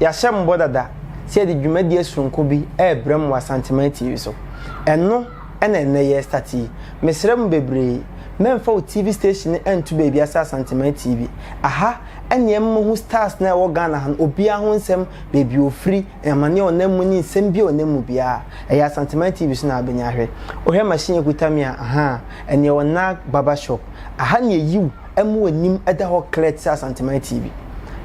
Yɛahyɛ mo bɔ dada sɛ yɛde dwumadie soronko bi rebrɛ mo wɔ Asanteman TV so. Ɛno na ɛnnɛ yɛrestate yi. Mesrɛ mo bebree, mɛmfa wo TV station no nto baabia sɛ Asanteman TV. Aha ne yɛma mohu stars no a ɛwɔ Ghana ha no obiara ho nsɛm, baabi a ɔfiri, amaneɛ a ɔnam mu ne nsɛm biara a ɔnam mu biara, ɛyɛ Asanteman TV so na wobɛnya ahwɛ. Wohwɛ machine a ɛkuta me a, ahaa, ɛno yɛ Onah Barber Shop. Aha ne yɛyi wo. amu anim da hɔ klɛɛ te sɛ Asanteman TV.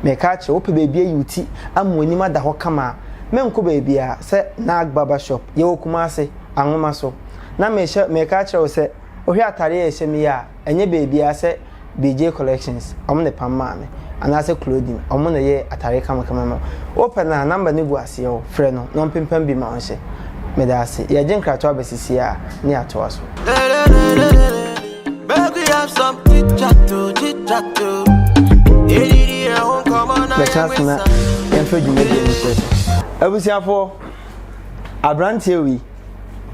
Mereka akyerɛ wo, wopɛ baabi ayi wo ti ama w'anim ada hɔ kama a, menkɔ baabiara sɛ Nag Barber Shop. Yɛwɔ Kumase, Anwoma so. Na mehyɛ, mereka akyerɛ wo sɛ, wohwɛ atadeɛ a yɛhyɛ mu yi a, ɛnyɛ baabiara sɛ BJ Collections, wɔn na ɛpam maa me, anaasɛ Clothing, wɔn na ɛyɛɛ atadeɛ kamakama ma me. Wopɛ no a, nɔmba no gu aseɛ o, frɛ no na ɔmpempam bi ma wo nhyɛ. Meda ase. Yɛregye nkratoɔ aba sisi ara na yɛatoa so. Bɛhyɛ ase na yɛmfa dwumadie no sɛ abusuafoɔ aberanteɛ wei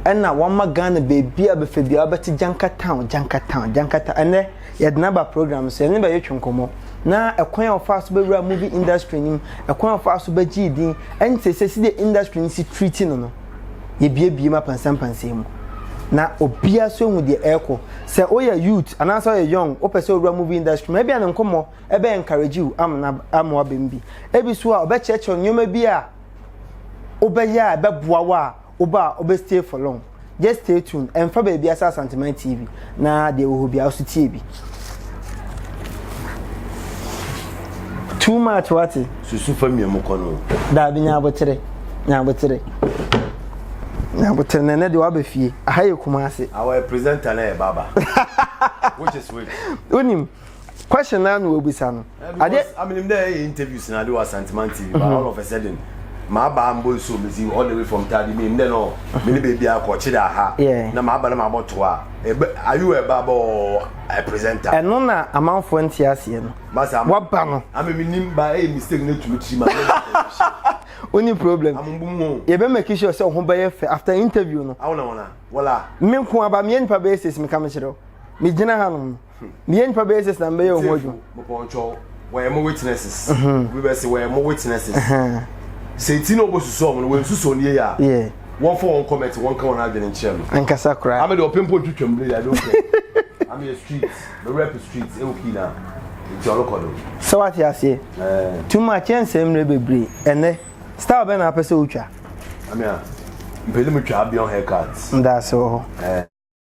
ɛna wama ghana baabi a bɛfɛ bia wobɛte janka town janka town janka town ɛnɛ yɛde no aba program so ɛne bɛyɛ twe nkɔmmɔ na ɛkwan a ɔfaa so bɛwura movie industry no mu ɛkwan a ɔfaa so bɛgyee din ɛne sɛ sɛ si deɛ industry no si treaty no no yɛbiabie mu apansampansam mu na obiara nso ehu deɛ ɛrekɔ sɛ woyɛ youth anaasɛ ɔyɛ young wopɛ sɛ owura movie industry mu ebia ne nkɔmmɔ ɛbɛ encourage you amena amoa bɛm bi ebi so a ɔbɛkyerɛkyerɛ nneɛma bi a wobɛyɛ a ɛbɛboa wo a woba a wobɛ stay for long just stay tuned ɛnfa baabi asa asanteman tv Na deɛ wɔ hɔ biara nso tie bi. Too much wate. Susu fa mia mu kɔ no. Daabi nyabotere nyabotere nyabotere na ɛnɛ deɛ waba fie aha yɛ kuma ase. Awɔ yɛ presenter na yɛ baba which is which. Wonim. question naa na wɔbisa no. Ade. Aminim dɛ ɛyɛ interviews na ade wɔ Asanteman TV but mhm. all of a sudden maba mbɔ nsuo mesi all the way from Tadi mi ndɛ no mhm. mene baabi akɔ kyerɛ aha na maba na mabɔ to a ɛbɛ ayi wɔ ɛba bɔ ɛ presenter. Ɛno na amanfoɔ nte aseɛ no. Basa ama waba no. Ami mi nim ba ɛyɛ mistake na etumi tiri ma. Only problem. Yɛbɛ make sure sɛ ɔho bɛyɛ fɛ after interview no. Awona wona wɔla. Me nko aba me yɛ nipa bɛyɛ six mi ka mi kyerɛ o. Me gyina ha nom. Meyɛ nipa bɛyɛ six na mebɛyɛ ɔho adwuma. Mepɔnkyɛw wɔyɛ mo witnesses. Mhm. Obi bɛ se wɔyɛ mo witnesses. Mhm. Sɛ ti na ɔbɔ susu ɔmo no wɔn susu ɔno yie a. Yeah. Wɔn fɔ wɔn comment wɔn ka wɔn adwene nkyɛn no. Ankasa koraa. Ame de ɔpɛ mpo ntwitwa mu de I don't care. Ame yɛ street me rep street ɛwɔ kii na nti ɔno kɔ do. Sɛ wate aseɛ. Ɛɛ. Too much yɛn nsɛm mmerɛ bebree ɛnɛ style bɛ na apɛ sɛ otwa. Ame a mpɛ ne mu twa abiɔn haircut. Ndaase wɔ hɔ. Ɛɛ.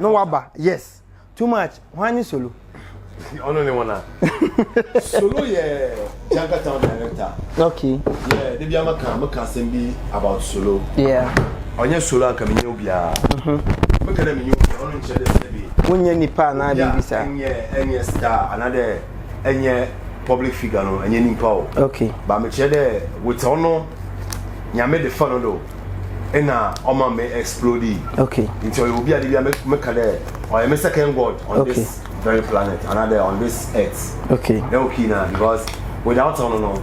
No waba yes too much hwan ne solo. Ɔno ne wɔn a. Solo yɛ Janka town director. Okay. Yeah, de bi ama kan mo ka asɛm bi about solo. Yeah. Ɔnyɛ solo anka mi nye obiara. Mhm. Mo kɛ dɛ mi nye obiara ɔno nkyɛn dɛ sɛ bi. Wonyɛ nipa anaa biribi saa. Ɛnyɛ ɛnyɛ star anaa dɛ ɛnyɛ public figure no ɛnyɛ nipa o. Okay. Ba mi kyerɛ dɛ wotɛ ɔno nyame de fa no do. ɛna ɔma me explode yi okay nti ɔyɛ obi a de bi a meka dɛ ɔyɛ me second god on okay. this very planet anadɛ on this earth okay na okay na because without ɔno no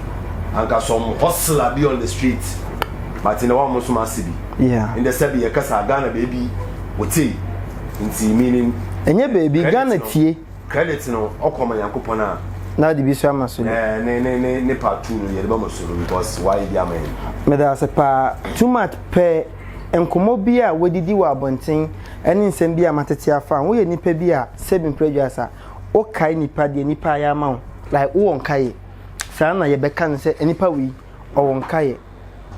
anka some hustler bi on the street but na wɔn nso ma ase bi yeah ndɛ sɛ bi yɛkasa ghana baabi wɔte nti meaning ɛnyɛ baabi ghana tie Credit no ɔkɔ ma Nyankopɔn a. Na ɔde bi so ama so no. Ne ne ne ne part two no yɛde bɛma so no because wayɛ bi ama yɛn. Meda ase paa too much pɛ nkɔmmɔ bi a wadidi wɔ abɔnten ɛne nsɛm bi a matete afa ho. Woyɛ nipa bi a Sebin Praduas a wokae nipa deɛ nipa ayɛ ama wo like wowɔ nkaeɛ saa na yɛbɛka no sɛ nipa wei ɔwɔ nkaeɛ.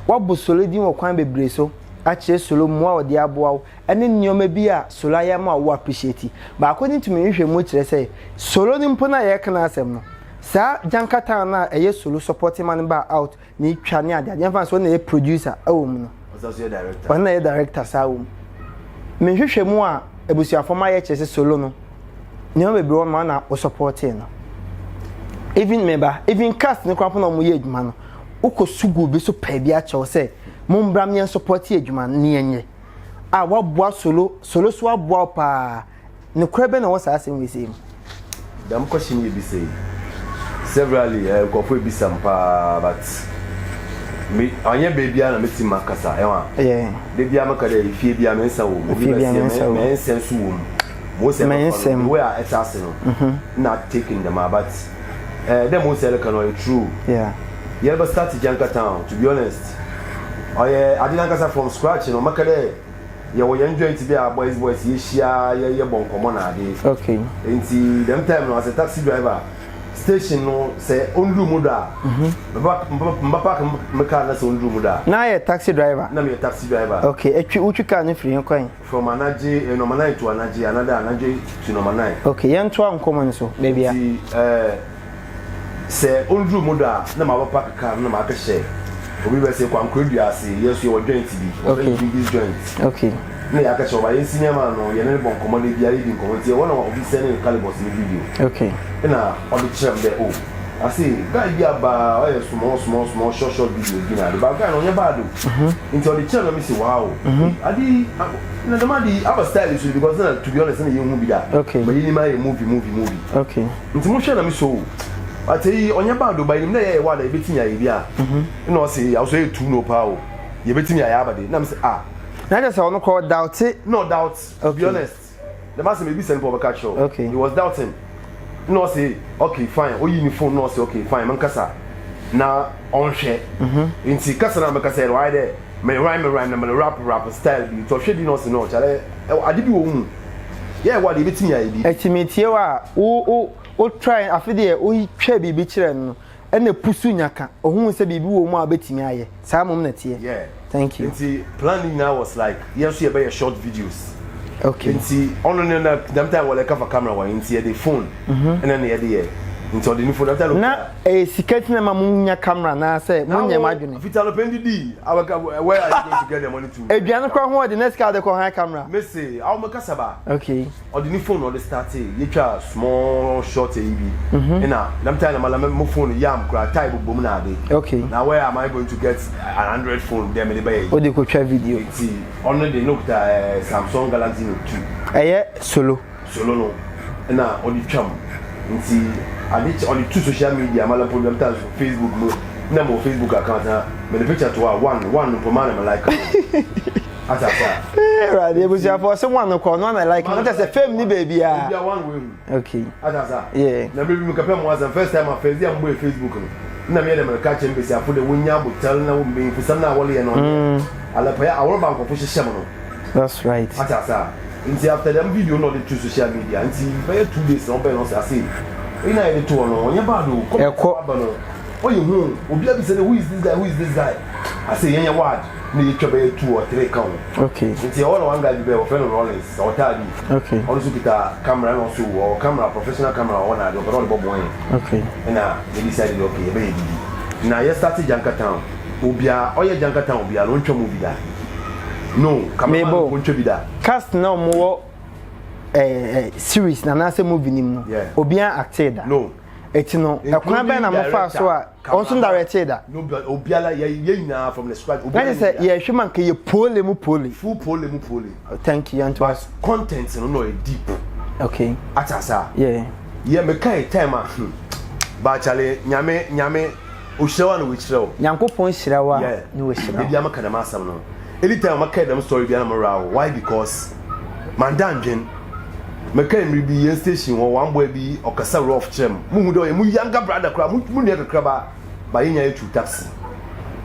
Woabɔ Solo din wɔ kwan bebree so akyerɛ Solo mmoa a ɔde aboa wo ne nneɛma bi a solo ayɛ ama wo appreciate. Baako ne tumi nhwehwɛmu kyerɛ sɛ solo no mpo no a yɛreka n'asɛm no, saa gyankatan no a ɛyɛ solo supporting ma no baa out na etwa ne adeade yɛmfa no sɛ ɔno na ɛyɛ producer wɔ mu no, ɔno na ɛyɛ director saa wɔ mu. Me nhwehwɛmu a abusuafo ma yɛ kyerɛ sɛ solo no nneɛma bebree wɔ ma na wo supporting no. Even me ba, even cast no koraa mpo na wɔn yɛ adwuma no, wokɔ suguu bi so pɛɛ bi akyɛw sɛ mombra mmea supporting adwuma no ne yɛnyɛ. a waboa solo solo so aboa wo paa nokorɛ bɛ na wɔ saa asɛm wei sei mu. Dɛm question yi yɛbisa yi severally eh, nkurɔfoɔ ebisa me paa but me anyɛ baabiara na mɛtumi makasa ɛho a yeah. da biara mɛka dɛ efie biara me nsa wɔ mu efie biara me nsa wɔ mu me nsa nso wɔ mu mo sɛ mɛfa no the way a ɛte ase no mm-hmm. na taking dɛm a but eh, dɛ mo nsɛn no ka no ɔyɛ true yeah. yɛreba start gyanka town to be honest ɔyɛ ade nankasa from scratch no maka dɛ yɛwɔ yɛn joint bi a boys boys yɛhyia yɛyɛ bɔ nkɔmmɔ na ade okay. nti dɛm time no as a taxi driver station no sɛ ɔnduru mu dɔ a mhm. mba park me car na sɛ ɔnduru mu dɔ a na yɛ taxi driver na meyɛ taxi driver okay ɛtwi wotwi car no firi he kwan From anagye eh, nɔmanan to anagye, another anadwo to nɔmanan. Okay, yɛn to anko mu nso, baby a. Nti eh, sɛ onduru mu da a, na ma bɛ park car no na ma kɛ hyɛ obi bɛ sɛ kwankore dua ase, yɛ so yɛ wɔ joint bi, wɔ okay. Bigis joint. Okay. Na yɛ akɛ hyɛ ɔba, yɛn si nneɛma ano, yɛ ne ne bɔ nkɔmɔ de bi a yɛ di nkɔmɔ nti yɛ wɔ na obi sɛ ne calibus ne video. Okay. Na ɔde kyerɛ m dɛ oh. I say guy bi aba ɔyɛ small small small short short videos bi na ade ba guy na ɔnyɛ bad o nti ɔde kyerɛ na mi si wow ade yi na dɛm ade yi aba style so because na to be honest na yɛ hu bi da ma yɛ nim ayɛ movie movie movie nti mo hwɛ na mi so o ate yi ɔnyɛ bad o ba yɛ nim dɛ yɛ yɛ wa da yɛ bɛ ti mi ayɛ bi a ɛna ɔsi awuso yɛ tu no paa o yɛ bɛ ti mi ayɛ aba de na mi sɛ ah. na kyerɛ sɛ ɔno kora ɔdaute na ɔdaute to be honest dɛm asɛm mebisa no pɛ ɔbɛka kyerɛ wo okay. he was doubting na ɔse okay fine oyi ne phone na ɔse okay fine menkasa na ɔnhwɛ mm-hmm. nti kasa na mekasa yɛ wayɛ dɛ me rhyme me rhyme na me rap rap style bi nti ɔhwɛ bi na ɔse no ɔkyerɛ ade bi wɔ mu yɛ ɛwɔ ade ebetumi ayɛ bi ɛti metie wa wo wo wo try afe deɛ woyi twɛ biribi kyerɛ no ɛna pusu nya ka ohun sɛ biribi wɔ mu a ɔbɛtumi ayɛ saa mmom na ɛteɛ yeah thank you nti plan ne nyinaa was like yɛn nso yɛbɛyɛ short videos okay nti ɔno ne na dam time wɔlɛ kafa camera wɔn nti yɛde phone mhm. ɛna ne yɛde yɛ nti ɔde ne phone dam time na ɛyɛ eh, sika ti na ma mo nya camera na sɛ mo nyɛ mo adwene fita no pɛn didi awɛka where are you going to get the money to aduane kora ho ɔde na sika ɔde kɔ high camera mese awo mo kasaba okay Ɔde ne phone na ɔde startee, yɛtwaa small short ayi bi, ɛna nam time na ma na mo phone yam koraa, tie bobɔ mu na ade, na where am I going to get an Android phone dɛ mede bɛyɛ ayi, nti ɔno de na ɔkuta Samsung Galaxy Note two, ɛyɛ solo solo no na ɔde twa mu, nti ade kye ɔde to social media ma na mpo nam time so Facebook mu, na mewɔ Facebook account na mede picture to hɔ a one one mpo ma na me like no. ata ata. ee awurade ebusuafo ɔsɛ mu ano kɔ ɔno ana like na kyerɛ sɛ fam ni baabi a ebi awan wɔ ehu okay ata ata yeah na biribi mu kapɛ mu asɛm first time a fɛzi a mo bɔ facebook no na mi yɛ dɛ mɛreka kyɛn besiafo dɛ wɔn nya abotare na wɔn mbɛnfo sɛm na awɔle yɛ no ɔnyɛ mm. alɛpɛyɛ awɔre ba nkɔfo hyehyɛ mo no that's right ata ata nti after dɛm video na ɔde to social media nti bɛyɛ two days na ɔbɛn na ɔsɛ ase eyi na yɛ de to hɔ no ɔnyɛ bad o kɔmɛtɛ aba no ɔyɛ hu obi abisa dɛ who is this guy who is this guy ase yɛn yɛ ward. na yɛtwa bɛyɛ two or three ka ho okay nti ɛhɔ na one guy bi bɛyɛ wɔfrɛ no Rollins sɛ ɔtaa bi okay ɔno nso kita camera na ɔso wɔ camera professional camera wɔ hɔ na ade ɔpɛ sɛ ɔde bɔbɔ yɛn okay ɛna yɛ decide de okay yɛbɛyɛ didi na yɛ start Janka Town obiara ɔyɛ Janka Town obiara na ɔntwa mu bi da no cameraman no ɔntwa bi da cast na ɔmo wɔ eh, eh, series na anaasɛ movie nim no yeah. obiara acted da no ɛti no ɛkwan bɛn na mo fa so a ɔnso directee da. obiara yɛ yɛ nyinaa from the scratch. obiara yɛ sɛ yɛhwɛ ma nka yɛ pole mu pole. full pole mu pole. Oh, thank you yanto. but content no na ɔyɛ deep. okay atasa. yeah yɛ meka yɛ time a hmm. baakyale nyame nyame ohyira wa na wɔkyerɛ wo. nyankopɔn hyira wa na wɔhyira wo. ebi ama ka dɛm asɛm no anytime ama ka dɛm story bi anam ra wo why because. mannda nndwen. Mekaa mber bi hɛn station hɔ ɔamboa bi ɔkasa rough kyerɛɛ me, muhun dɛ ɔyɛ mo younger brother koraa, mo mo nua kakraba, but yɛnye no twiw taxi.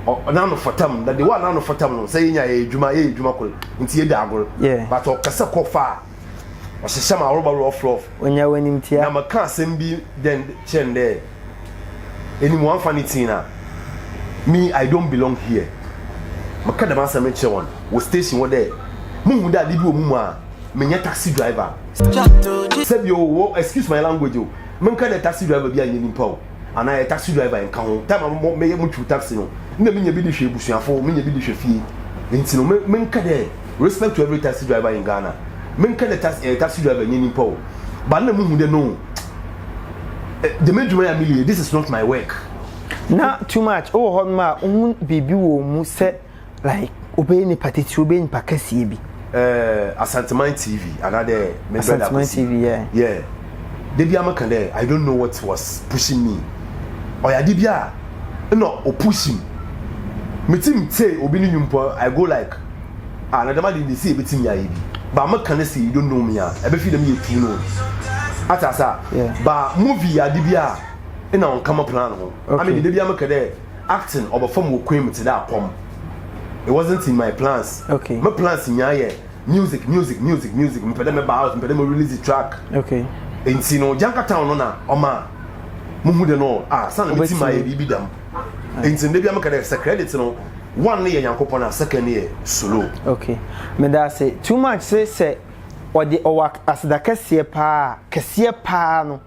Ɔ n'ano fata mu, na the way a n'ano fata mu no, sɛ yɛnye no yɛyɛ edwuma, yɛyɛ edwuma kor ntsi yedzi agor, but ɔkasa kɔ far a, ɔhyehyɛ m'aworoba rough rough. Onya w'enyimtsia. Na mekaa asɛm bi dɛ kyerɛɛ no dɛ. ɛnim wɔamfa ne tin a me i don't belong here meka dɛm asɛm no kyerɛ wɔn wɔ station hɔ dɛ muhu dɛ ade bi wɔ mu mu a menyɛ taxi driver sɛbi o wɔ excuse my language o menka dɛ taxi driver bi anyɛ nipa o anaa yɛ taxi driver ɛnka ho time a meyɛ motwiw taxi no na menya bi de hwɛ abusuafo menya bi de hwɛ fie nti no menka dɛ respect to every taxi driver in Ghana menka dɛ taxi driver nyɛ nipa o ba na muhu dɛ no dɛm adwuma yɛ a meyɛ this is not my work na too much wɔ hɔ nom a wohu biribi wɔ mu sɛ like wobɛyɛ nipa titiri wobɛyɛ nipa kɛseɛ bi eh, asanteman tv anaadɛ asanteman tv yeah. yeah. da bi amaka dɛ i don't know what was pushing me ɔyɛ ade bi a ɛna ɔpushing me ti me tee obi ne nwumpo i go like Ah na dɛm ade ne sɛ ebetumi ayɛ bi. Ba me ka ne sɛ you don't know me a, ɛbɛfi dɛm yɛ tu no. Ate asa? Yeah. Ba movie yɛ ade bi a ɛna wɔn kama plan ho. Okay. Ame de da bi a me ka dɛ acting ɔbɛfam wɔ kwan mu te dɛ akɔm. It wasn't in my plans. Okay. Me plans nyinaa yɛ music music music music mepɛ dɛ me ba out mepɛ dɛ me release the track. Okay. Nti no Janka town no na ɔma mo hu dɛ no ah san me ti ma yɛ biribi dɛm. Nti ndɛ bia meka dɛ sɛ credit no one no yɛ Nyankopɔn a second no yɛ solo. Ok. Meda ase too much se sɛ ɔde ɔwɔ aseda kɛseɛ paa a kɛseɛ paa no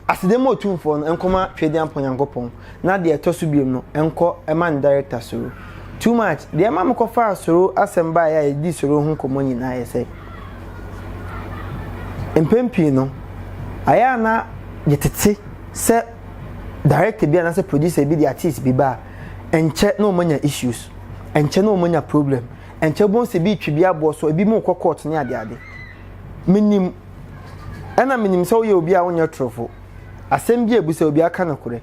aseda ma Otumfoɔ no nkɔma Twedeampɔn Nyankopɔn na deɛ ɛtɔ so biom no nkɔ ma ne Director Soro too much deɛ ɛma mekɔ faa Soro asɛm baeɛ a yɛdedii Soro ho nkɔmmɔ nyinaa yɛ sɛ mpɛn pii no ayɛ a na yɛtete sɛ director bi anaasɛ producer bi de artist bi ba a ɛnkyɛ na wɔn anya issues ɛnkyɛ na wɔn anya problem ɛnkyɛ wɔn sɛ bi retwi bi aboɔ so ebi mu kɔ court ne adeade menim ɛna menim sɛ woyɛ obi a wonyɛ torofo asɛm bi a ebu sɛ obi aka no korɛ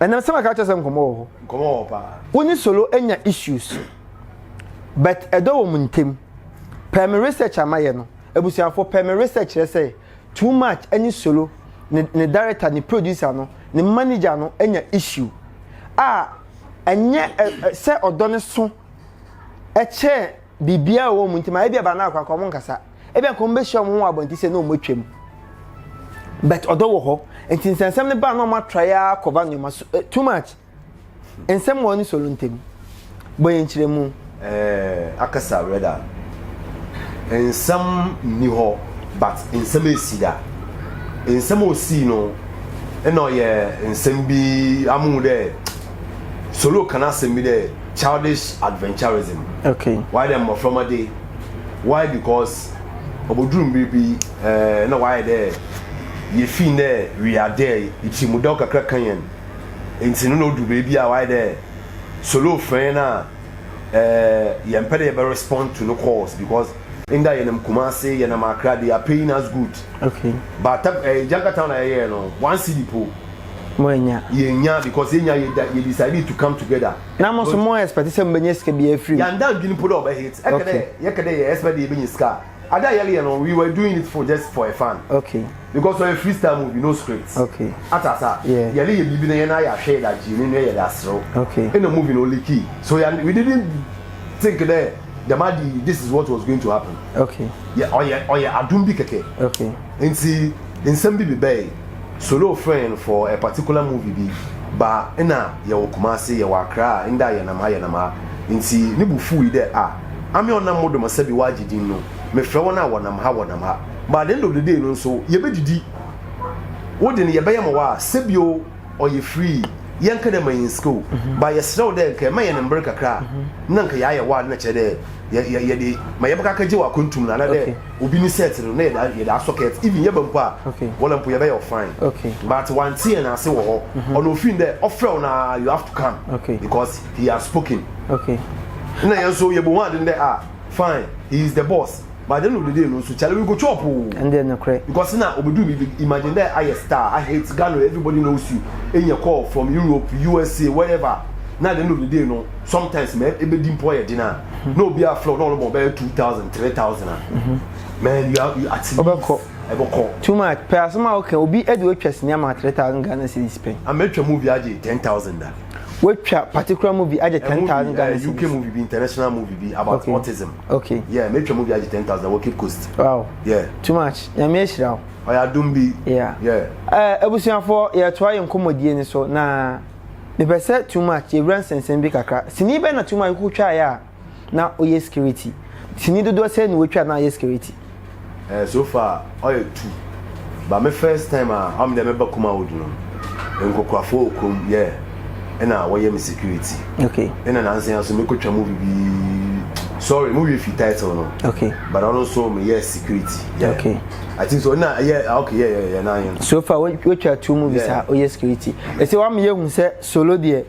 ɛnam sɛ maka kyerɛ sɛ nkɔmɔ wɔ hɔ nkɔmɔ wɔ paa wo ne solo anya issues but ɛdɔ wɔn ntɛm pɛɛ me research amayɛ no abusuafo pɛɛ me research kyerɛ sɛ. Too much ɛne solo ne ne director ne producer no ne manager no anya issue a ɛnyɛ ɛ ɛ sɛ ɔdɔ no so ɛkyɛn biribiara wɔ wɔn ntam a ebi aba no akɔ anka wɔn nkasa ebi anka wɔn bɛhyia wɔn ho abɔnten sɛ na wɔn atwam but ɔdɔ wɔ hɔ nti nsɛnsɛm no ba na wɔn atrae ara kɔba nneɛma so ɛ too much. Nsɛm wɔ ɔne Solo ntam. Bɔ yɛn nkyerɛmu. Eh, akasa Reda. Nsɛm nni hɔ, but nsɛm esi da. Nsɛm a osii no, ɛna ɔyɛ nsɛm bi amuhu dɛ Solo ka n'asɛm bi dɛ childish adventurism. Okay. Wayɛ dɛ mmɔframma de. Why? Because obodur mber bi, eh, nna ɔayɛ dɛ yefii ndɛ wiadɛ yi etsirmudɔw kakra kã hɛn. Ntsi no na odur beebi a ɔayɛ dɛ Solo frɛɛn no a, ɛɛ yɛmmpɛ dɛ yɛbɛ respond to no calls because nda yɛnam Kumasi, yɛnam Accra, they are paying us good. Okay. But ta ɛɛ Janka town a yɛyɛɛ no, one cedi po. Moennya. Yɛnnya because yɛnnya yɛda yɛ decide to come together. Na mo so mo expect sɛ mobɛnya sika biara afiri mu? Yɛannda anndwen mpo dɛ ɔbɛ hit. Ɛkɛ dɛ yɛkɛ dɛ yɛ expect dɛ yɛbɛnya sika a. Ade a yɛreyɛ no we were doing it for just for a fun okay because ɔyɛ free style movie no script okay ata asa yeah yɛreyɛ biribi na yɛn ayɛ ahwɛ yɛde agye yɛn nua yɛde aserew okay ɛna movie no oliki so yɛ we didn't think dɛ dɛm ade yi this is what was going to happen okay yɛ ɔyɛ ɔyɛ adum bi kɛkɛ okay nti nsɛm bi bebɛe solo frɛn no for a particular movie bi ba ɛna yɛwɔ Kumasi yɛwɔ Accra ɛnda yɛnam ha yɛnam ha nti ne bo fuui dɛ ah Ame a ɔnam mo dom asɛ be wɔ agye din no, mefrɛ wɔn a wɔnam ha, wɔnam ha. By the end of the day no nso, yɛbɛdidi. Wo de no, yɛbɛyɛ ma wo a, sɛ bi o, ɔyɛ free. Yɛnka dɛ ma yɛn sika o, but yɛsrɛ wo dɛ nka ɛma yɛn mber kakra a, na nka yɛayɛ wo a, na kyerɛ dɛ yɛ, yɛ, yɛde, ma yɛbɛkɔ akɛgye wɔ akwantum no, anaadɛ Okay. obi ne sɛɛt no, na yɛde, a, yɛde asɔ kɛɛt. Even yɛba mpo a, Okay. wɔla mpo yɛbɛyɛ wo fine. Okay. But wante yɛn ase wɔ hɔ. Ɔno ofii no dɛ, ɔfrɛ wo no a, you have to come. Okay. Because. he has spoken okay na yɛn so yɛ bɔ ho ade ndɛ ah fine he is the boss but at the end of the day no so chale we go chop o oh. ɛnde no korɛ because na obedu mi imagine dɛ ayɛ star i hate ghana everybody knows you enya call from europe usa wherever na at the end of the day no sometimes mɛ ebedi mpɔ yɛ den a mhm. na obi aflɛ ɔna ɔlɔbɔ ɔbɛyɛ two thousand three thousand a mhm. man you are you at least ɔbɛkɔ ɛbɛkɔ too much pɛ asoma ɔkɛ obi ɛdi otwa sinima three thousand ghana cedis pɛ ama etwa mu obi agye ten thousand da. Watwa particular movie agye ten thousand Ghana cedis. UK movie bi international movie bi about okay. autism. Okay. Yeah, me twa movie agye ten thousand wɔ Cape Coast. Wow. Yeah. Too much. Nyame ahyira wo. Ɔyɛ adum bi. Yeah. Yeah. Eh, abusuafoɔ yɛtoa yɛ nkɔmmɔdie ni so na mepɛ sɛ too much yɛwura nsɛnsɛm bi kakra. Sini bɛ na too much kotwaeɛ a na ɔyɛ security sini dodoɔ sɛn na watwa na ayɛ security. Eh, so far ɔyɛ two but me first time a ɔm deɛ mɛba Kumawood no nkokorafoɔ wɔ kurom yɛ ɛna wɔyɛ me security okay ɛna nansa nso mekɔtwa mu bibi sorry mu wie fi title no okay but ɔno nso meyɛ security yeah okay I think so na ɛyɛ ah, okay yɛ yɛ yɛ na yɛ so far wotwa two movies a ɔyɛ security ɛsɛ wɔn ameyɛ hu sɛ solo deɛ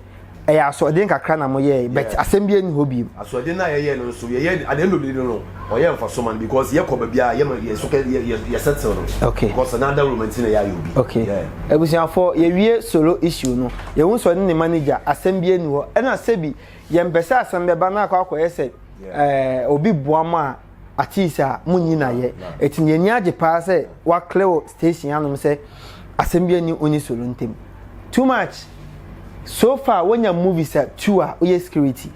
ɛyɛ asoɔden kakra na moyɛe but asɛm bi ani hɔ bio. asoɔden no a yɛyɛ no nso yɛyɛ at the end of the day no ɔyɛ nfa so ma no because yɛkɔ baabi a yɛma yɛ so kɛ yɛ yɛ yɛ settle no okay because na ada room nti na yɛayɛ obi okay yeah. abusuafo yɛwie solo issue no yɛhu sɛ ɔne ne manager asɛm bi ani hɔ ɛna sɛbi yɛmpɛ sɛ asɛm bɛba na akɔ akɔyɛ sɛ ɛɛ obi boa mo a Atease a, munyi no ayɛ. Eti ne ani agye paa sɛ wɔaklɛ wɔ station anom sɛ asɛm biara nni ɔne Solo ntam. Too much! So far wanya movies a two a ɔyɛ security.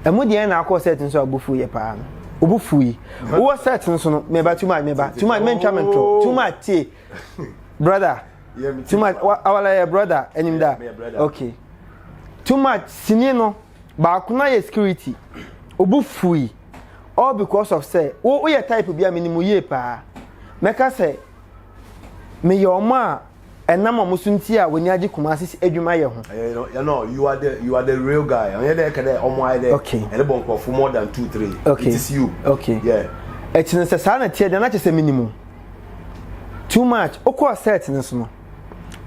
Ɛmu deɛ na akɔ set no so a bo fuuyɛ paa no. Obo fuui. Wowɔ set no so no, meba too much meba too much mentwa mentɔ too much tie brother too much awala yɛ brother anim da okay too much sini no. Baako no ara yɛ security. Obu fui. All because of sɛ wo woyɛ type bi a menim wo yie paa. Mɛka sɛ meyɛ wɔn a ɛnam wɔn so nti a w'ani agye Kumasi adwuma yɛ ho. Ɛyɛ no yɛ no you are the you are the real guy. Ɛnyɛ dɛ ɛka dɛ wɔn ayɛ dɛ okay. ɛde bɔ nkurɔfo more than two three. Okay. It is you. Okay. Yeah. Ɛkyerɛ sɛ saa na ɛteɛ deɛ na kyerɛ sɛ menim o. Too much. Wokɔɔ set no so no.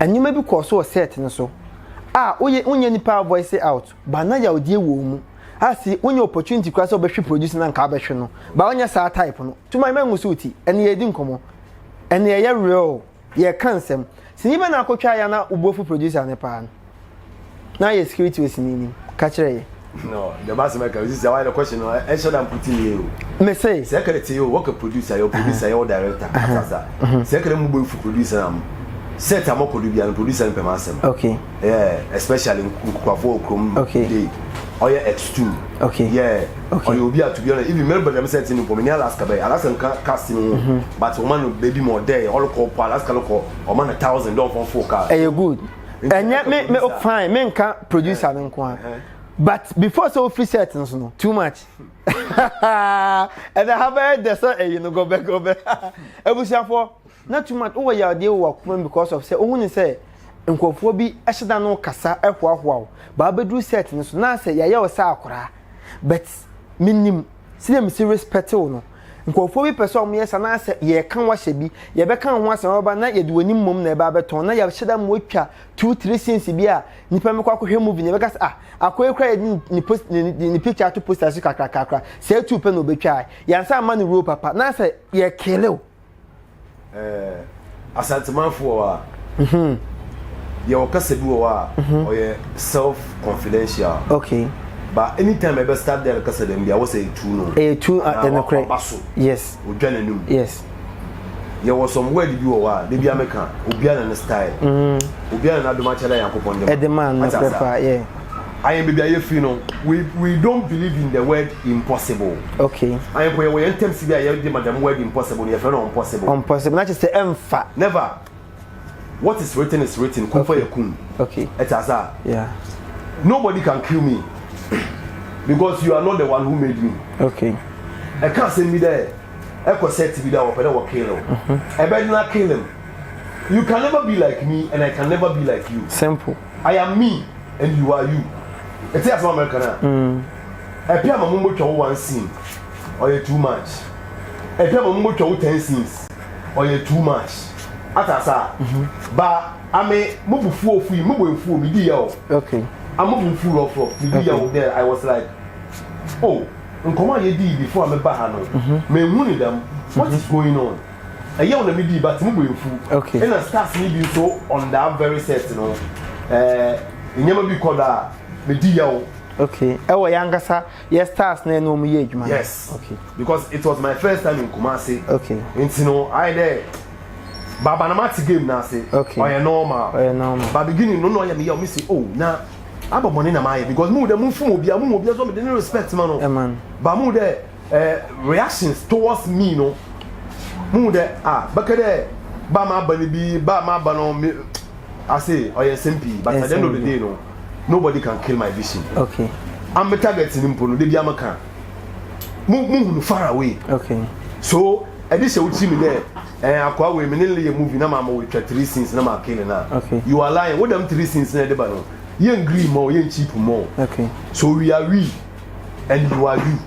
Nneɛma bi kɔɔ so wɔ sɛɛt no so a woyɛ wonyɛ nipa a voice out ba na yawdie wɔ mu a se wonya opportunity koraa sɛ wobɛhwe produce na nka wobɛhwe no ba wonyɛ saa type no to my mangu so woti ɛne yɛdi nkɔmmɔ ɛne ɛyɛ real yɛka nsɛm sini bɛ na akɔtwa ya na wobofu producer no paa no na yɛ security wɔ sini nim ka kyerɛ yɛ. no deɛ ma asɛm ɛka osi sɛ wayɛ no kɔhye no ɛnhyɛ da mpo tumi yɛ o me se sɛ ɛkɛrɛ te o wɔkɛ producer yɛ producer yɛ wɔ director asasa sɛ ɛkɛrɛ mu bɔ efu producer na mo set a mɔkɔ do bia no producer no pɛ ma asɛm okay yeah especially nkukuafo okrom okay day ɔyɛ extreme okay yeah okay ɔyɛ obi a to be honest even mɛrɛ bɛrɛ mi sɛ ti ni pɔ mi ni alaska bɛyɛ alaska nka cast ni ho but ɔma no baby ma ɔdɛ ɔlɔkɔ pɔ alaska lɔkɔ ɔma na thousand dɔn fɔn fo car ɛyɛ good. ɛnyɛ me me oh, fine me nka producer no nko ara but before sɛ ofiri set nso no too much ɛna ha bɛyɛ dɛ sɛ ɛyi no gɔbɛ gɔbɛ abusuafoɔ na too much wowɔ yadeɛ wɔ wakoma mu because of sɛ ohun ne sɛ nkurɔfoɔ bi ɛhyɛ dan no kasa ɛhoahoa o baa bɛduru set no so na sɛ yɛayɛ wɔ sɛ akora but menim. Sɛdeɛ a mesi respect wo no, nkurɔfoɔ bi pɛ sɛ wɔyɛ saa na sɛ yɛreka wo ahyɛ bi, yɛbɛka wo ho asɛm aba na yɛde w'anim mmom na ɛba abɛtɔn na yɛahyɛ da ma watwa two three scenes bi a nnipa mmɛkɔ akɔhwɛ movie no yɛbɛka sɛ ah akɔ yi koraa yɛde ne post ne, ne, ne picture ato poster so kakrakakra saa two pɛ na ɔbɛtwaa yɛansa amma no role papa na sɛ yɛkele wo Asantemanfoɔ wɔ hɔ a, mm-hmm. yɛwɔ kasa bi wɔ hɔ a mm-hmm. ɔyɛ self confidential. Okay. But anytime ɛbɛ start there kasa dɛm bi a wɔsɛ etu no. Etu ɛnukurɛ ɔba so. Yes. Odwa n'anim. Yes. Yɛwɔ some word bi wɔ hɔ a debi ameka obiara na ne style. Mm-hmm. Obiara na n'adom akyɛ na yankopɔn de ma. Ɛde ma no pɛpa yɛ. Ayɛn baabi a yɛfiri no we we don't believe in the word impossible. Okay. Ayɛn pɔ yɛwɔ yɛn ntɛm si bi a yɛde ma dɛm word impossible no yɛfrɛ no impossible. Impossible na kyerɛ sɛ ɛmfa. Never. What is written is written. Kun fa yɛ kun. Okay. Ɛte asa. Yeah. Nobody can kill me because you are not the one who made me. Okay. Ɛka asɛm bi dɛ ɛkɔ sɛ ti bi dɛ wɔpɛ dɛ wɔ kill o. Ɛbɛn na kill him. You can never be like me and I can never be like you. Simple. I am me and you are you. Ɛte asɛm a mɛka no a. Ɛpɛ ama mo mbotwa wo one scene. Ɔyɛ too much. Ɛpɛ ama mo mbotwa wo ten scenes. Ɔyɛ too much. Ate asa a. Ba ame mo bu fuo fui mo bo efuo me di ya o. Okay. Amo bu fuo rough rough me di ya o there I was like oh nkɔmɔ a yɛ dii before a me ba ha no me nhu ne dɛm what is going on. Ɛyaw na midii but mo bo efuw. Nna stars no bi so on that very set no eh nneɛma bi kɔ do a medi yaw. Okay ɛwɔ yɛn ankasa yɛ stars no ɛna wɔn yɛ adwuma no. Yes okay because it was my first time in Kumasi. Okay nti no ayɛ dɛ baaba na ma te game no ase. Okay ɔyɛ normal ɔyɛ normal but beginning no na ɔyɛ me yaw me si oh na abɔ bɔne na ma ayɛ because mo hu dɛ mo nfum obiara mo hu obiara so me de ne respect ma no ɛma no but mo hu dɛ. eh, reactions towards me no muhu dɛ ah bɛka dɛ ba ma aba no bi ba ma aba no me ase ɔyɛ nsɛm pii but at the end of the day no nobody can kill my vision okay am me target no mpo no de bi amaka mu muhunu far away okay so ɛde hyɛ wo tiri mi dɛ ɛn akɔa wei me ne le yɛ movie na ma ma wɔ twa three scenes na ma kill na okay you are lying wo dɛm three scenes na ɛde ba no yɛn green mɔ yɛn cheap mɔ okay so we are we and you are you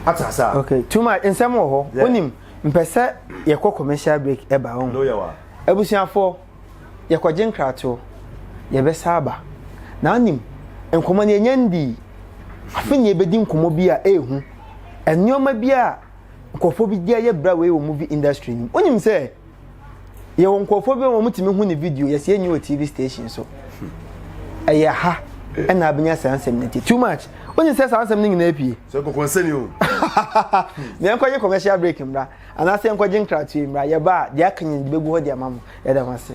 ate ase a. okay too much nsɛm wɔ hɔ wonim mpɛ sɛ yɛkɔ commercial break ɛba wɔn abusuafoɔ yɛkɔgye nkratoɔ yɛbɛsa aba na wonim nkɔmmɔ no yɛnya ndii afe ne yɛbɛdi nkɔmmɔ bi a ɛɛhu nneɛma bi a nkurɔfoɔ bi de ayɛ bra wei wɔ movie industry nim wonim sɛ yɛwɔ nkurɔfoɔ bi a wɔtumi hu ne video yɛsɛ yɛnyi wɔ tv station so ɛyɛ ha ɛna abɛnya saa nsɛm no ti too much wonye sɛ saa nsɛm no nyinaa pie sɛ kɔkɔ nsɛni o na yɛnkɔgye commercial break mmra anaasɛ yɛnkɔgye nkratoe mmra yɛba a deɛ aka nyina de bɛgu hɔ de ama mo yɛda ho ase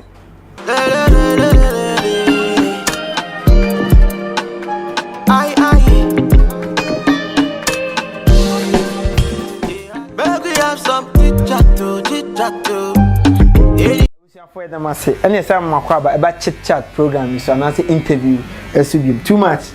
abusuafoɔ ɛdɛm ase ɛne ɛsɛ ama akɔ aba ɛba chit chat program yi so anaasɛ interview ɛso biom too much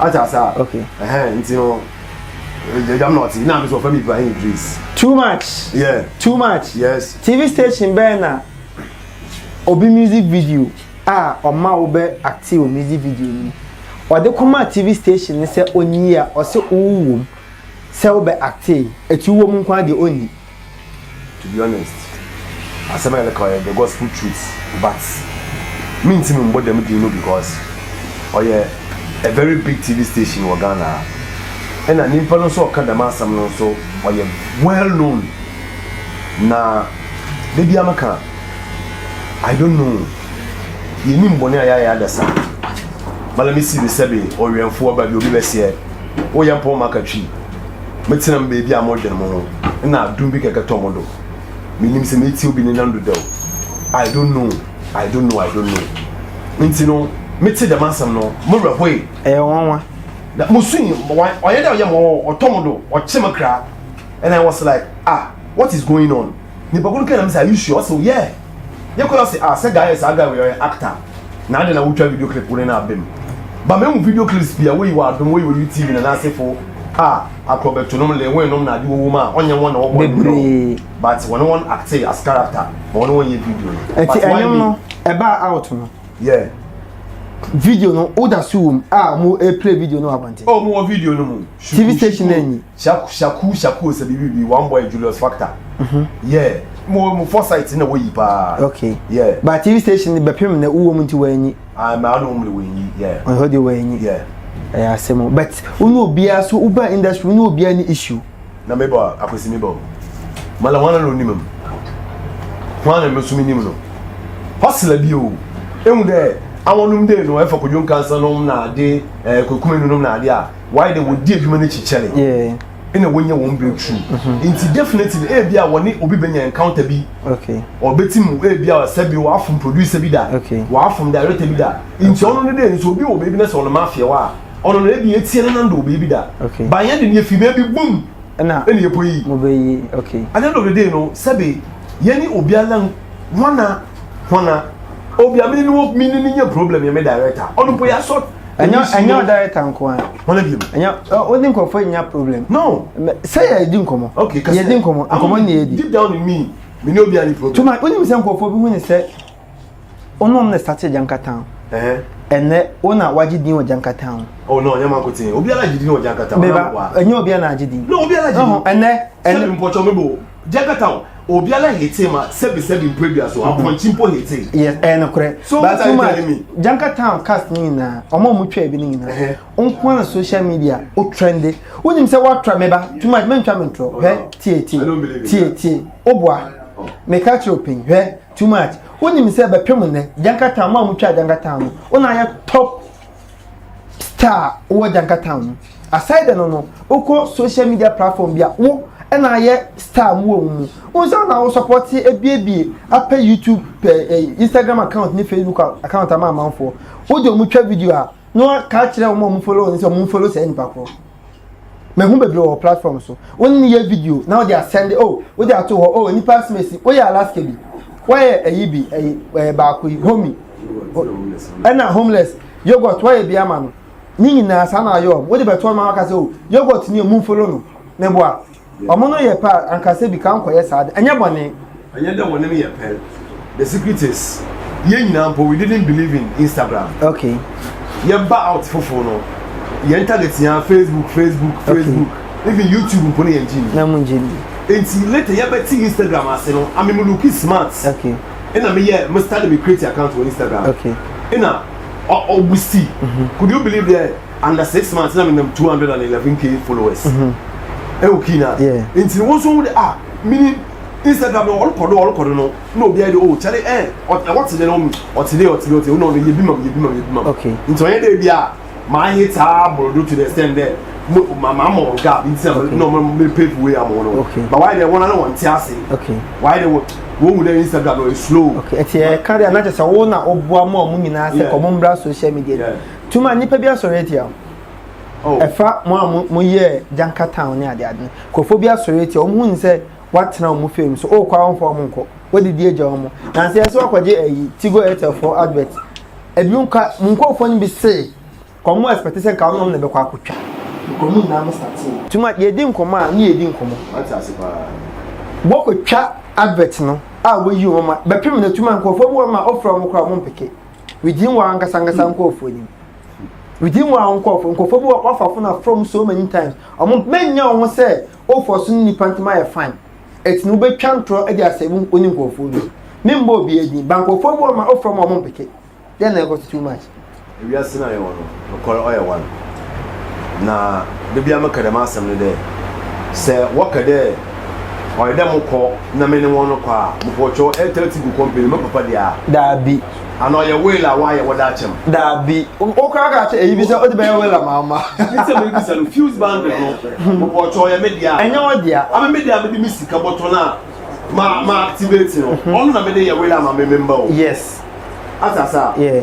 Ate ase a. Okay. Ɛhɛn nti no ɛgya mu na ɔte na mi so ɔfɛ mi Ibrahim Idris. Too much. Yeah. Too much. Yes. TV station bɛyɛ na obi music video a ɔma wo bɛ acte wɔ music video no mu. Ɔde kɔma TV station ne sɛ ɔnyi a ɔse wo wɔ mu sɛ wo bɛ acte eti wo wɔ mu nko ara deɛ ɔnyi. To be honest asɛm a yɛreka ɔyɛ the gospel truth but mentimi mbɔ dɛm din no because ɔyɛ a very big TV station wɔ Ghana ha ɛna nyimpa no nso ɔka dɛm asɛm no nso ɔyɛ well known na da bi ameka I don't know yɛnim bɔne a yɛayɛ adasa ma let me see the sɛbe ɔwɛmfoɔ ba bi obi bɛseɛ woyɛ mpɔn maka twi Metsena me beebi a modwen moho na adum bi kɛkɛ tɔ mo do. Minyim sɛ metsie obi ne nan do dɛw. I don't know, I don't know, I don't know. Ntsi no, metsee dɛm asɛm no, mo werɛ hoe. Ɛyɛ nwanwa. Na musui, ɔnnyɛ dɛ ɔyɛ mo, ɔtɔ mo do, ɔkye me kra. And I was like, ah, what is going on? Nipa ko no kaa na me sɛ are you sure ɔse oh yeah yɛ kɔɛ ɔse ah sɛ guy yɛ saa guy wei ɔyɛ actor na adɛn na wo twa video clip wo ne no abɛ mu ba me hu video clips pii a woyi wɔ adom woyi wɔ utv na n'ase fo a akorɔ bɛ to nom le wɔn nom na ade wɔwɔ mu a ɔnyɛ wɔn na wɔbɔ ne video but wɔn wɔn acte as character ma wɔn wɔn yɛ video no ɛti ɛnyɛm no ɛba out no yeah video no woda so wɔ mu a mo play video no abɔnten oh mo wɔ video no mu tv station na enyi. Shaku shaku shaku o sɛ bibi bi one boy Julius factor mhm. yeah mo mo foresight na woyi paa okay yeah ba tv station bɛpem na wowɔ mu nti wɔanyi ah ma ano mu wɔanyi yeah ɔhɔ deɛ wɔanyi yeah ɛyɛ asɛm o but wo ne obiara so woba industry wo ne obiara ne issue na mebɔ akwasi mebɔ mala hwana na onim m hwana me so menim no hɔsela bi o ɛhu dɛ awonom dei no ɛfa kodwom kansa nom na ade eh, kokumenu nom na ade a why de wɔn di adwuma no akyi kyɛre ɛna wɔnyɛ wɔn breakthrough mhm. nti definitely ebi a wɔne obi bɛnya encounter bi ɔbɛti mu ebi a sɛbi wɔafom producer bi da wɔafom director bi da nti ɔno no de nso obi wɔ baabi na sɛ ɔno mafia wɔ a ɔno no ebi etie no nando wɔ baabi da banyɛ de ne efi baabi boom ɛna ɛna epo yi ɛna ɛna ɔde de no sɛbi yɛne obi alan wɔn na. hona obi a mene no mene no nyɛ problem yɛ me director ɔno mpo yɛasɔ ɛnyɛ ɔ director nko a hona biom ɛnyɛ wode nkurɔfoɔ nya problem no sɛ yɛdi nkɔmmɔ yɛdi nkɔmmɔ nkɔmmɔ ne yɛdi deep down in me mene obi a ne problem tuma wonim sɛ nkurɔfoɔ bi hu ne sɛ wonom ne sate gyankatan ɛnɛ wo na wagye din wɔ gyankatan oh no nyɛ manko tee obiara gye din wɔ gyankatan ɛnyɛ obiara na agye din ɛnɛ ɛnɛ mpɔkyɛ mebo Jakarta obiara hete ma sɛbi sɛbi mpo adua so apɔnkye mpo hete. yes ɛyɛ no korɛ so but too much janka town cast ne nyinaa ɔmo ɔmo twɛ ebi ne nyinaa nko ara social media o trende wonim sɛ woatra me ba too much mentwa me ntorɔ hwɛ tie tie tie tie o boa meka kyerɛ opin hwɛ too much wonim sɛ bɛpem nnɛ janka town ɔmo a ɔmo twa janka town no o na ayɛ top star a wowɔ Jankatown no, aside dɛ no no, wokɔ social media platform bi a, wo na ayɛ star mu wɔ mu. Wo nsa na wo support ebiebie apɛ YouTube, pɛ eh, Instagram account ne Facebook account ama amanfoɔ. Wode wɔn twa video a, na wɔaka akyerɛ wɔn a wɔn follow wɔn sɛ wɔn follow saa nipa korɔ. mehu bebree wɔ platform so wɔn ne yɛ video na wɔde asɛnde o oh, wɔde ato hɔ o oh, nipa asimesi wɔyɛ alaska bi wɔyɛ ɛyi bi ɛyi ɛyɛ baako yi homi ɛna homeless yogurt wɔyɛ bi ama no ne nyinaa saa na ayɛ wɔn wɔde bɛtɔ wɔn akasɛ o oh, yogurt ni emu folo no meboa Ɔmo no yɛ pɛ a anka sɛbi ka nkɔyɛ saa de, ɛnyɛ bɔne. Ɛnyɛ dɛ wɔne me yɛ pɛ. The secret is, yɛn nyinaa mpo we didn't believe in Instagram. Okay. Yɛba out foforo no, yɛn target nyinaa Facebook, Facebook, Facebook. Okay. Even YouTube mpo no yɛn gye ni. Na mo gye ni. Nti later yɛbɛte Instagram ase no, ame me looki smart. Okay. Ɛna me yɛ, me start me create account wɔ Instagram. Okay. Ɛna, ɔ, ɔ, busti. Mm-hmm. Could you believe that? under six months na menam two hundred and eleven k followers ɛwɔ mhm. kii na nti no wɔn so wɔn de ah mini instagram no ɔrekɔ do ɔrekɔ do no na obi ayɛ de o kyɛle ɛn ɛwɔ te de na ɔmu ɔte de ɔte de ɔte de ɔno ɔno yebi mam yebi mam yebi mam nti ɔyɛ de bi a maa yi taa borodo to the extent dɛ mo maa maa mo gap nti na na ɔmo mi pay for way amu no ba wɔayɛ de wɔn ano wɔn ti ase wɔayɛ de wɔn wɔn wu dɛ instagram no e slow. ɛti ɛ kari anakyɛ sɛ wɔn na ɔbua mu a wɔn nyinaa sɛ kɔn mo mbra social media. Tuma nnipa bi asɔre atia wo. Oh. Ɛfa mo a mo yɛ Janka town ne ade ade no. Nkurɔfoɔ bi asɔre atia wɔn hun sɛ watena wɔn fam so. Ɔkɔ a wɔmfa wɔn nkɔ. Wɔdidi agya wɔn. Nanso ɛsɛ wɔkɔgye ayi Tigo Airtel fo advert. Ebi nka mo nkurɔfoɔ no bi se wɔn mo expect sɛ nka wɔn na bɛkɔ akɔtwa. Nkɔmɔ nyinaa mo sate. Tuma yɛdi nkɔmɔ a ne yɛdi nkɔmɔ. Wate ase paa. Wɔkɔtwa advert no a wɔyi wɔn ma bɛpem na tuma nkurɔfoɔ bi wɔn ma ɔfrɛ wɔn koraa wɔn mpeke. within wɔn ankasa ankasa hmm. nkurɔfoɔ anim within wɔn nkurɔfoɔ nkurɔfoɔ bi wɔ wafa fo na from so many times wɔn mɛnya wɔn sɛ ofɔ so ne nipa ntoma yɛ fine ɛti na wobɛtwa ntorɔ de asɛ mu oni nkurɔfoɔ no ne mbɔ obi adin ba nkurɔfoɔ bi wɔ ma ofɔ ma wɔn mpeke dɛn na ɛkɔ so too much. ewiase na yɛ wɔn no. Nokwar ɔyɛ wan. Na da biara meka dɛm asɛm no dɛ, sɛ wɔka dɛ ɔyɛ dɛ mokɔ na menye hɔn no kɔ a, mopɔkyɛw Airtel Tigo company no, me papa de a? Daabi. Ana ɔyɛ will a wɔayɛ wɔdze akyɛ me? Daabi. Wo koraa ka kyerɛ eyi bi sɛ odze bɛyɛ will a mamma. Ntsi nsɛm a mibisa no, fuse bundle no, mopɔkyɛw ɔyɛ me dea? Nnyɛ wo dea. Ama me dea a medze me sika bɔtɔ no a ma activate no, ɔno na medze yɛ will ama me me mba o? Yes. Atse ase a? Yeah.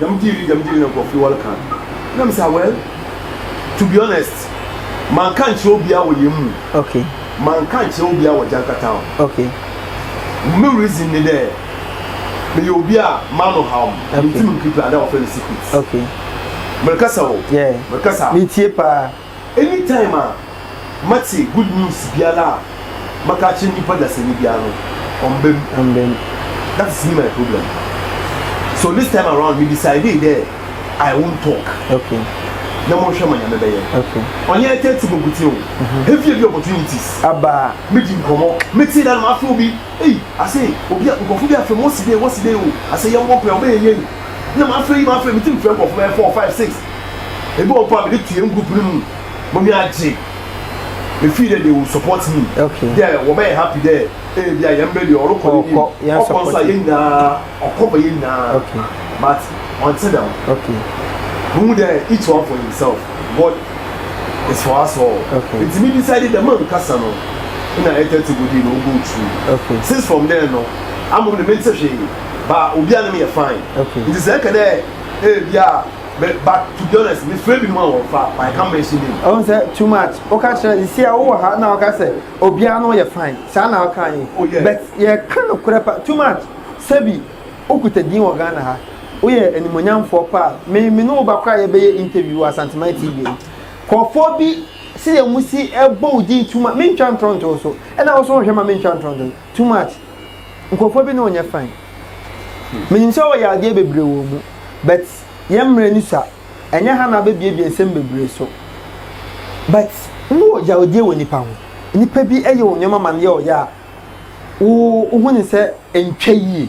Dɛm gyee bi dɛm gyee bi na nkorɔfo yi wɔreka no na me sa well to be honest manka nkyerɛ obiara wɔ yɛn mu okay manka nkyerɛ obiara wɔ Gyanka town okay me reason ne dɛ meyɛ obi a m'ano haw me okay mentumi nkeep ada wɔfrɛ no secret okay merekasa o yeah merekasa metie paa Anytime a mɛtse good news biara a mɛka akyerɛ nyimpa dasanyi biara no ɔmmba mu. Amen. That is me my problem so this time around me decidee dɛ I won't talk. Okay. Na monhwɛ ma Nyame bɛyɛ. Okay. Ɔnnyɛ ɛtɛ tse bɔkotsen o. Mhm. Heavy heavy opportunities. Aba. Medzi nkɔmɔ. Metsee da no mafrɛ obi. Ei, ase obi a nkorɔfo bi afrɛ me wɔse dei wɔse dei o. Ase yɛmbɔ mpae ɔbɛyɛ yie. na m'afrɛ yi m'afrɛ me ti mfrɛ nkɔfo bɛyɛ four five six ebi wɔ mpo a mede to yɛn group no mu mami agye me feel dɛ they will support me okay dɛ wɔbɛyɛ happy dɛ ee bi a yɛn bɛ deɛ ɔrekɔ ne nim ɔkɔ nso a yɛn nyinaa ɔkɔ ma yɛn nyinaa okay but ɔnte dɛm okay mo mu dɛ each one for himself God is for us all okay nti mi decide dɛ man kasa no na ɛtɛ ti go di na ogo tu okay since from there no amom ne me nte hwee. ba obi a ne yɛ fine nti sɛ ɛkɛ dɛ ebi a but to be honest me fɛ binom a wɔn fa but I can't mention name. ɔn sɛ too much ɔka kyerɛ sisi a wowɔ ha na ɔka sɛ obiara no yɛ fine saa na ɔka yi oh, but yɛka no korɛ pa too much sɛbi okuta din wɔ Ghana ha woyɛ animonyamfoɔ paa me me ne wo ba koraa yɛbɛyɛ interview wɔ Asantuma TV kɔfoɔ bi sɛ yɛn mu si ɛbɔ wo din too much mentwa ntorɔntorɔ so ɛna wo so wɔhwɛ ma mentwa ntorɔntorɔ too much nkurɔfoɔ bi ne ɔnyɛ fine menim sɛ wɔyɛ adeɛ bebree wɔ mu but yɛ mmerɛ ni sa ɛnyɛ ha na abɛbiebie nsɛm bebree so but wowɔ yawdie wɔ nipa ho nipa bi ɛyɛ wɔ nneɛma ma no yɛ ɔyɛ a wohu ne sɛ ntwa yie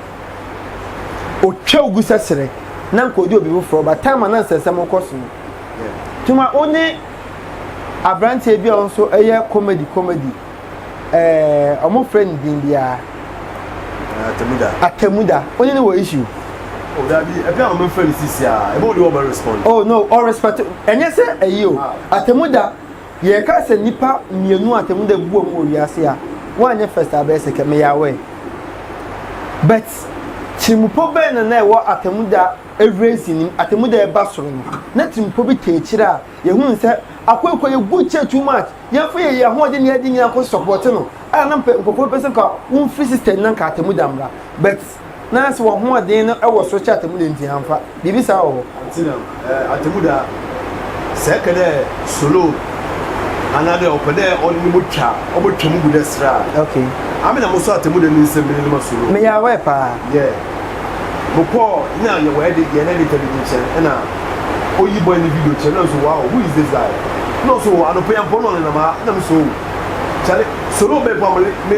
ɔtwa wo gu sɛ serɛ na nka ɔdi obi foforɔ ba time a na nsɛnsɛm wokɔ so no tuma wo ne aberanteɛ bi a ɔno nso ɛyɛ comedy comedy ɛɛ ɔmo frɛ ne din biara atamuda atamuda wo ne ne wɔ issue Oh, that be a plan of friend is here. I won't do my respond. Oh no, all respect. And yes, sir, you. Atamuda. Yɛka sɛ nnipa mmienu a atemmu da buam wɔ wiase a, woanyɛ first a bɛyɛ second, meyɛ aware. But tirimupɔ bɛn na na ɛwɔ atemmu da raising no mu, atemmu da ɛba soro no, na tirimupɔ bi taa akyire a yɛhunu sɛ akoekoe yɛ good kyɛ too much, yɛmfa yɛn ahoɔden ne yɛn ade nyinaa nkɔ support no, a na nkurɔfoɔ pɛ sɛ nka womfiri system no na nka atemmu da mmra. But. so. Na sɛ w'ahoɔden no wɔ so kyɛ atemmu da nti a, mfa. Biribi saa wɔ hɔ? Atsenamu eh, atemmu da. Sɛ eka dɛ soloon anaa dɛ ɔpɛ dɛ ɔdze no bo twa a, ɔbɔtwa mu gu dɛ serɛ a. Okay. Ame na mosɔ atemmu da ne nsam menye no ma soloon. Meyɛ aware paa. Yeah. Mokɔɔ, nna yɛwɔ edi, yɛn editor bi ne nkyɛn, nna oyi bɔe ne video kyerɛ me, nna ɔse wow, who is this guy? Nna ɔse oh, anɔpa yi ampa wo na ɔnenam ha, nna mese oh, kyale, soloon bɛn koraa mpo me.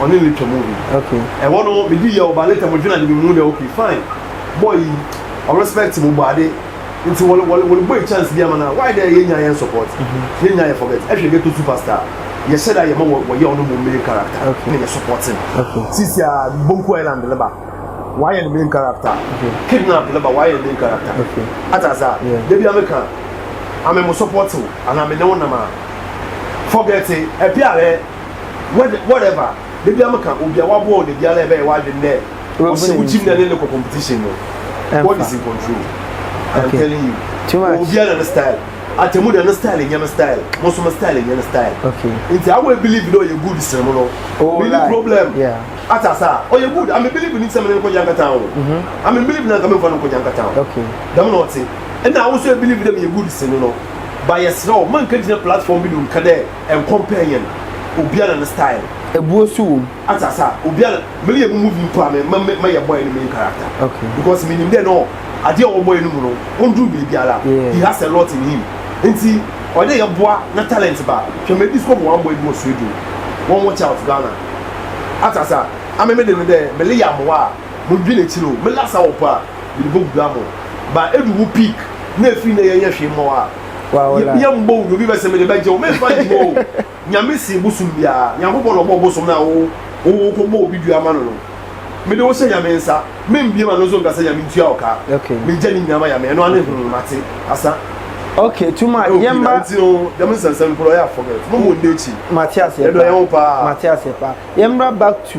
ɔne no twa movie okay ɛhɔ no me di yɛ ɔba later mo dwena de me mu dɛ okay fine boy yi ɔrespect mo bɔ ade nti wɔle wɔle wɔle boy chance bi ama na why dɛ yɛ nya yɛn support mhm. yɛ nya yɛ forget ɛhwɛ ghetto superstar yɛ hyɛ da yɛ ma wɔ wɔyɛ ɔno mo main character na yɛ support no sisi a bonku island ne ba wayɛ ne main character kidnap ne ba wayɛ ne main character ata asa debi ameka ame mo support o ana me ne wo nam a forget ɛpi ahwɛ. wed whatever da bia meka obi a waboa wo da bia na ɛbɛyɛ w'adwene dɛ ɔhyɛ wo gyim na ne ne kɔ competition no God is in control I'm okay. telling you too much obi a na ne style atemu da ne style nyɛ me style mo nso me style nyɛ ne style okay nti awo e believe dɛ ɔyɛ good sere mo no oh, me like. problem yeah. atasa ɔyɛ good ame believe ne sɛ me ne nkɔgya nkata ho mm-hmm. ame believe na nka me nfa no nkɔgya nkata ho okay dɛm na ɔte ɛna awo nso e believe dɛ me yɛ good sere no no ba yɛ serɛ o man ka gyina platform bi do nka dɛ Nkɔm pɛn yɛ no, obia na ne style. Ebuo so wom. Ate ase a, obia na, me reyɛ me movie mpo a me ma me ma yɛ bɔe no main character. Okay. Because me nim dɛ no adeɛ a ɔwɔ bɔe no mu no, ɔnduru baabi ara, he has a lot in him. Nti, ɔyɛ dɛ yɛ boa na talent ba. Hwɛ me disco mu one boy bi wɔ Sweden, wɔn watch out Ghana. Ate ase a, ame me de no dɛ me reyɛ amoa a, mo dwen akyire o, me last hour mpo a, me de bɔ gu grammo. But edu wo peak na efiri nnɛ yɛ nyɛ hwee mma wo a, yɛ mbɔ wo obi bɛ sɛ mede bɛgye wo memfa nto mu o nyame se bosom biara nyankopɔn na ɔbɔ bosom no a wo wo kɔ bɔ obi dua ma no no mede wo hyɛ nyame nsa membie ma no nso nka sɛ nyame ntua wo ka megya ne nyinaa ma nyame ɛno ane ho mate asa Okay, too much. Okay, Yemba. Nti no, dem nsansan kuro ya forget. Mo mo ndekyi. Matias yepa. Edo yewo pa. Matias yepa. Yemba back to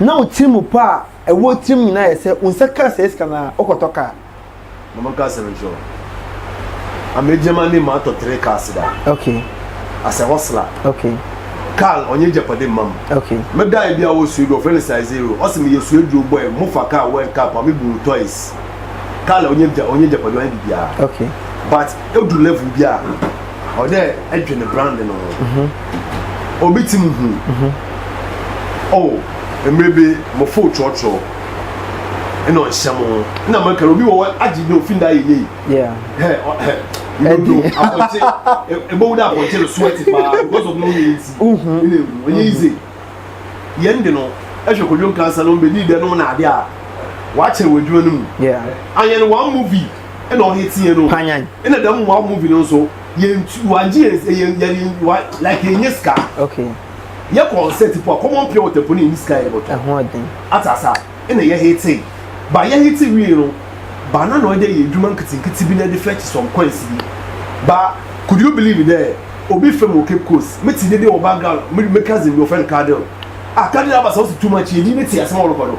na wo tirim mu pɔ a ɛwɔ tirim nyinaa yɛ sɛ wo nsa kaa sɛe sika no a wokɔtɔ kaa mama ka asɛm nkyerɛ wo amegyama ne ma atɔ tere kaa seda okay as a hustler okay kaa ɔnyɛ japade mma m okay medae bi a wɔ suedu ɔfrɛ no size zero ɔse meyɛ suedu bɔe mu fa kaa world cup a mebu wo toys kaa la ɔnyɛ japade ɔnyɛ biribiara okay but edu level bi a ɔdɛ ɛdwen brand no ho mhm. obi ti mu hu mhm. o oh, mmerɛ bi mo fo trɔtrɔ ɛna ɔnhyɛ mo ho ɛna mo ɛka obi wɔ hɔ agye bi ofin da yɛ yie hɛ ɔhɛ ndodo apɔnkye ebowu da apɔnkye no so ɛte paa because of no yɛ nti ɛna ewu ɛnyɛ yize yɛn de no ɛhwɛ kodwo nkansa no mbedi dɛ no na ade a wakyɛ wɔ adwuma no mu ayɛ no one movie. ɛna ɔyɛ tiɛ no panyan ɛna dɛm wa movie no nso yɛn tu wagye yɛn sɛ yɛn yɛn wa like yɛn nye sika okay yɛ concert po a common pure water po na yɛn sika yɛ bɔtɔ ɛho ɔden atasa ɛna yɛ hete ba yɛ hete wie no ba na na ɔyɛ dɛ yɛ adwuma nketenkete bi na ɛde fetch some coins bi ba could you believe dɛ obi fam wɔ cape coast me ti dede wɔ background me me cousin bi ɔfɛn kadel a kadel abasa ɔsi too much yɛ di ne ti asɛm ɔrekɔ do.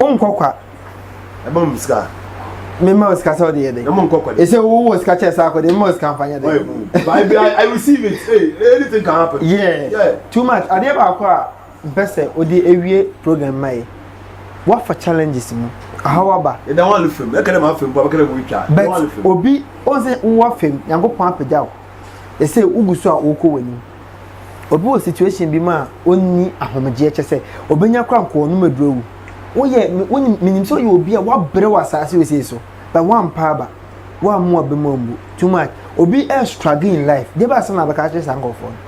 wonkɔ kwa ɛbɔ mu sika mema wo sika sɛ wode yɛ dɛn ɛsɛ wowɔ sika kyɛ saa kɔde mema wo sika mfa nyɛ dɛn too much adeɛ baako a mpɛ sɛ wode awie program ma yɛ woafa challenges mu ahaw aba but obi ɔsɛ wowɔ fam nyankopɔn apagya wo ɛsɛ wogu so a wokɔ w'anim obi wɔ situation bi mu a ɔnni ahomegyeɛ kyɛ sɛ ɔbɛnya kora nkɔɔ no mɛduru awu woyɛ wonim menim sɛ woyɛ obi a woabrɛ wɔ asaase wɔ sei so but woampa aba woammo aba mu ammu too much obi ɛ struggle in life deɛ bɛ asɛm na bɛka kyerɛ saa nkɔɔfoɔ no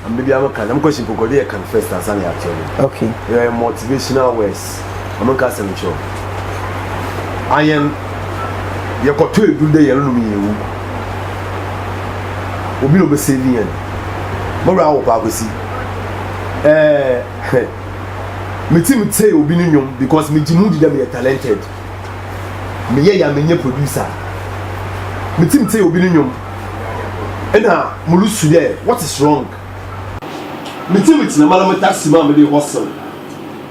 I'm baby I'm a can. I'm question for God. They can first and son are children. Okay. They are motivational words. ɔmo nka asɛm nkyerɛ ɔmo ayɛn yɛkɔtɔ edu dɛ yɛn nom yɛn wu obi na ɔbɛsɛ bi yɛn mo wura awo paa kwesi ɛɛ eh, me ti mi tɛ obi ne nnwom because me gyi mu di dɛ me yɛ talented me yɛ ya me nyɛ producer me ti mi tɛ obi ne nnwom ɛna mo lu su dɛ what is wrong me ti mi tena ma na mo taxi ma me de hustle.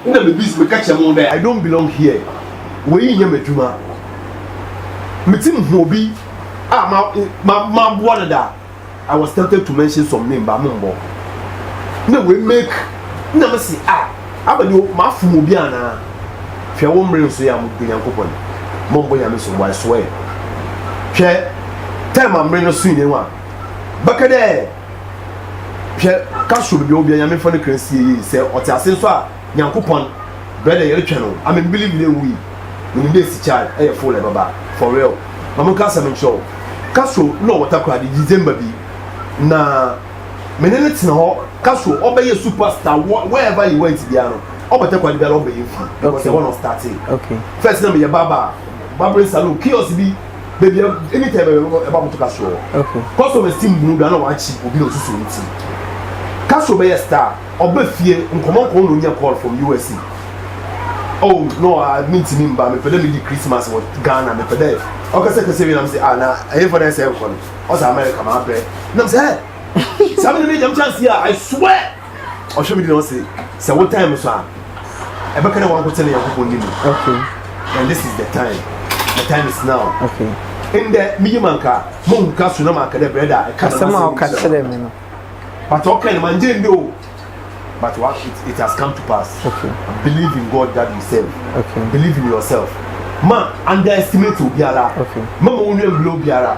Nna mibisa, meka kyerɛ mo dɛ. I don't belong here, wei nnyɛ m'edwuma. Mitsim hu obi a maboa no da. I was tempted to mention some name but mommbɔ. Nna oemake, nna mese ah, aba dɛ mafom obi anaa? Hwɛ wo mber nsoe a mobɔ Nyankopɔn, mommbɔ Nyame so mbo, I swear. Hwɛ, time a mber no soe nye ho a, bɛka dɛ. hwɛ ka so bibia obia nyame fɔ ne kra sie yie sɛ ɔte ase nso a nyankopɔn brɛ dɛ yɛretwɛn no I mean believe ne nwui wonim dɛ esi child ɛyɛ full ɛbɛba for real ma mo nka asɛm nkyerɛ wo ka so na ɔwɔ takora de December bi na mene ne tena hɔ ka so ɔbɛyɛ superstar wherever he went biara no ɔbɔ takora de biara ɔbɛyɛ fun because ɛhɔ na ɔstartee first na meyɛ baba barbering salon kiosk bi baabi a ɛni tɛ bɛbɛ bɛbɔ ɛba moto kasoro hɔ kɔsɔ bɛ si mbunu do ana wakyi obi na osusu ne ti kasoro bɛyɛ star ɔbɛ fie nkɔmɔ nkɔmɔ na onya call from usa oh no a mi ntumi mba mepɛ dɛ medi christmas wɔ ghana mepɛ dɛ ɔkasa kasa wie nam sɛ ah na ɛyɛ fɔ dɛ ɛsɛ nkɔ no ɔsɛ america ma abɛ nam sɛ ɛ saa mi na mi gyam chance yi a i swear. ɔhwɛ me di na ɔse sɛ wo time so a ɛbɛka dɛ wanko kyɛ ne nyankopɔn di mu okay and this is the time the time is now okay ndɛ meyi ma nka mahu ka so na manka dɛ brɛda a ɛka asɛm a ɔka kyerɛ me no but ɔka no mangye ndi o but what it, it has come to pass okay believe in god that you serve okay believe in yourself ma underestimate obiara okay ma ma wo nua mbila obiara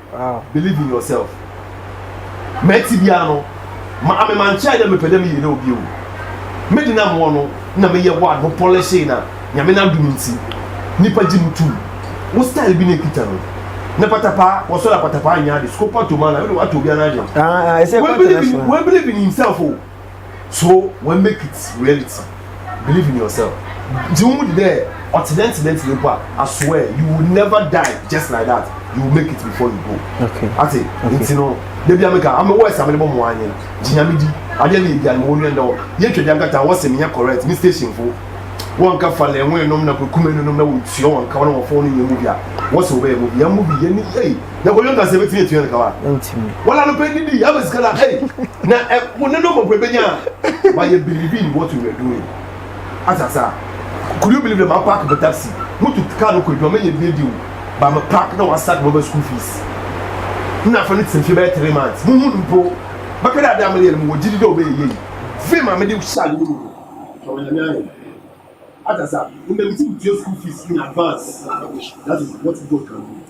Wow. Believe in yourself. Mɛtse biara no, ma ame mankyɛɛ dɛ mepɛ dɛ meyɛ dɛ obi o. Me de nam hɔ no na meyɛ hɔ a no pɔlɛhyee na Nyame n'adom ntsi nyimpa gye mo tum. Wo style bi na ekitsa no. Na patapaa, wɔsɔr a patapaa nnyɛ ade, scopa to man a, ɔno de wɔatɔ obiara n'adwen. Ah, ah, ɛsɛ We believe in, we believe in himself o. so wɔn make it reality believe in yourself nti wɔn mu di dɛ ɔtenɛntenɛntenɛ mpo a asoɛ you will never die just like that you will make it before you go okay ate okay. nti no debi ameka ame wɔ ɛsɛ amene bɔ mo anyi gyinyame di adeɛ ne ebi anyi wɔn nua ndɛ wɔ yɛn twɛ di ankata wɔsɛ mi yɛ correct mi station fo wɔn nka fa lɛnwe nom na kukume nom na wɔn tua wɔn nka wɔn wɔn fɔ wɔn yɛ mu bi a wɔsɛ wɔbɛyɛ mu bi yɛn mu bi yɛn ni yɛ. na kɔdwo nkasa ɛbɛtumi atua no kawa ntimi wala no pɛ didi ama sika na ei na mo ne no mɔpɛ bɛnya but yɛ believe in what we were doing asasa could you believe that ma park me taxi mutu car no kɔ adwuma mɛnyɛ bie deal ba me park na wasak mɔbɛ school fees na afɔ no tena fie bɛyɛ three months mo hu no mpo bɛka dɛ ade a meyɛ no mewɔ gyidi dɛ ɔbɛyɛ yie fee ma mede hyɛ ade no mu no ɔyɛ nyame ayɛ asasa mmɛmti mutua school fees in advance that is what God can do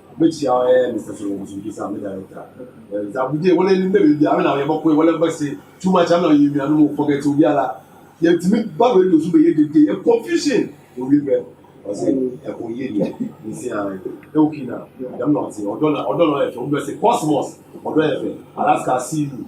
Mekyia wo eh Mister Solo Musubi sa me director eh Mister Abudie wɔn anim na biribi a me na yɛ bɛkɔ wɔn bɛsi too much am na yɛ nuanom o forget obi ala yɛntumi ba radio so bɛyɛ dede yɛ confusion owie bɛ ɔsɛ ɛkɔ yie deɛ nsi an ɛwɔ kii na dɛm na ɔte ɔdɔ na ɔdɔ na ɔyɛ fɛ obi bɛsi cosmos ɔdɔ yɛ fɛ Alaska I see you.